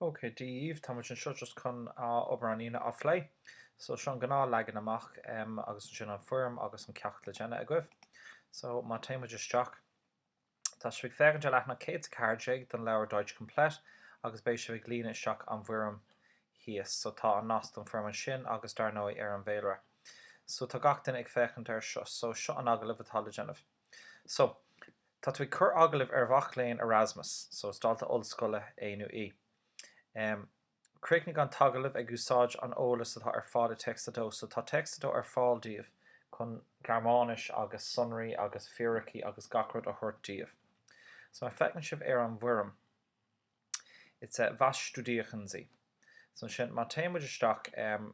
OK, Dia daoibh, tá muid anseo just chun ár obair an Aoine a phlé. So, seo an gnáth leagan amach em agus ansin an foirm agus an ceacht le déanamh agaibh. So, má téimid isteach, tá sibh ag féachaint ar leathnach 114 den leabhar Deutsch Komplett agus beidh sibh ag líonadh isteach an bhfoirm thíos. So, tá an nasc don foirm ansin agus dar ndóigh ar an bhféilire. So, tá gach duine ag féachaint air seo. So, seo an agallamh atá le déanamh. So, tá tú ag cur agallamh ar mhac léinn Erasmus, so is dalta ollscoile é nó í. Em, críochnaigh an t-agallamh ag úsáid an eolas atá ar fáil i Text 2, so tá Text 2 ar fáil daoibh chun Gearmáinis agus sonraí agus fíricí agus gach rud a thabhairt daoibh. So má feiceann sibh ar an bhfoirm, it's a, was studieren Sie? So ansin, má téimid isteach, em,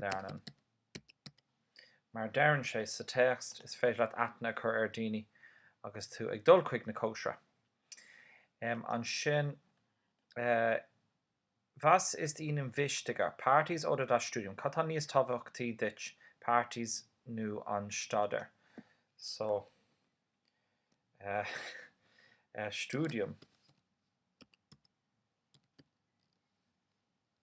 lernen. Mar a deireann sé sa téacs, is féidir leat aithne a chur ar daoine agus tú ag dul chuig na cóisirí. Um, ansin, eh, was ist Ihnen wichtiger, Parties oder das Studium? Cad tá níos tábhachtaí duit, Parties nó an staidéar? So, eh, eh, Studium.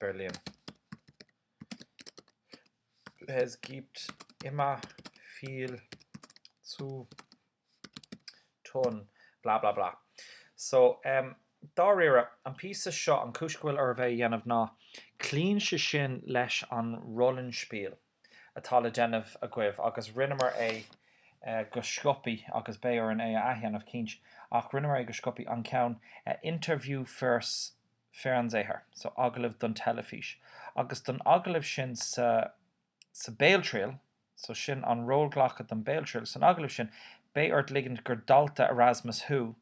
Berlin. Es gibt immer viel zu tun, blah blah blah. So, em, dáiríre, an píosa seo, an chúis go bhfuil oraibh é a dhéanamh ná cloíonn sé sin leis an Rollenspiel atá le déanamh agaibh agus rinneamar é go sciopaí agus beidh orainn é a athdhéanamh, cinnte, ach rinneamar é go sciopaí, an ceann 'Interview fürs'. Fernsehen, so agallamh don teilifís, agus don agallamh sin sa sa Béaltriail, so sin an rólghlacadh don Béaltriail san agallamh sin, beidh ort ligint gur dalta Erasmus thú,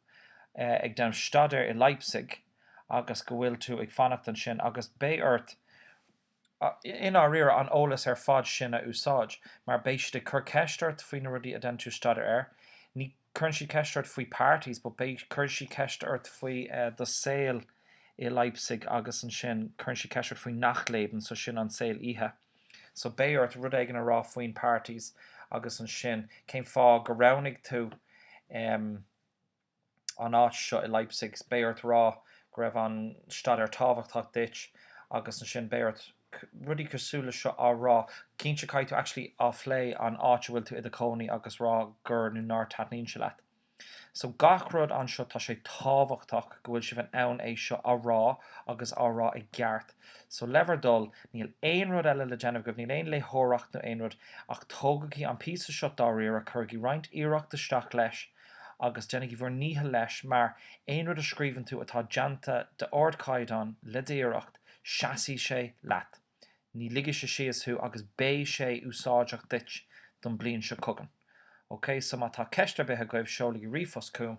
eh, ag déanamh staidéir i Leipzig, agus go bhfuil tú ag fanacht ansin, agus beidh ort, I ndáiríre, an eolas ar fad sin a úsáid, mar beidh siad ag cur ceist ort faoi na rudaí a deineann tú staidéar air, ní cuireann siad ceist ort faoi parties but beidh cuireann siad ceist ort faoi do saol i Leipzig agus ansin cuireann siad ceist ort faoi Nachtleben so sin an saol oíche so beidh ort rud éigin a rá faoin parties agus ansin cén fáth go roghnaigh tú em an áit seo i Leipzig, beidh ort rá go raibh an staidéar tábhachtach duit agus ansin beidh ort rudaí cosúil le seo á rá. Cinnte, caithfidh tú actually a phlé an áit a bhfuil tú i do chónaí agus rá gur nó nár taitníonn sé leat. So gach rud anseo tá sé tábhachtach go bhfuil sibh in ann é seo a rá agus á rá i gceart. So le bhur dtoil, níl aon rud eile le déanamh agaibh, níl aon léitheoireacht nó aon rud ach tógaigí an píosa seo dáiríre, cuirigí roinnt iarracht isteach leis, agus déanaigí bhur ndícheall leis mar aon rud a scríobhann tú atá déanta d'ardchaighdeán le d'iarracht seasfaidh sé leat. Ní ligfidh sé síos thú agus beidh sé úsáideach duit don bliain seo chugainn. Ok so má tá ceist ar bith agaibh seolaigí ríomhphost chugam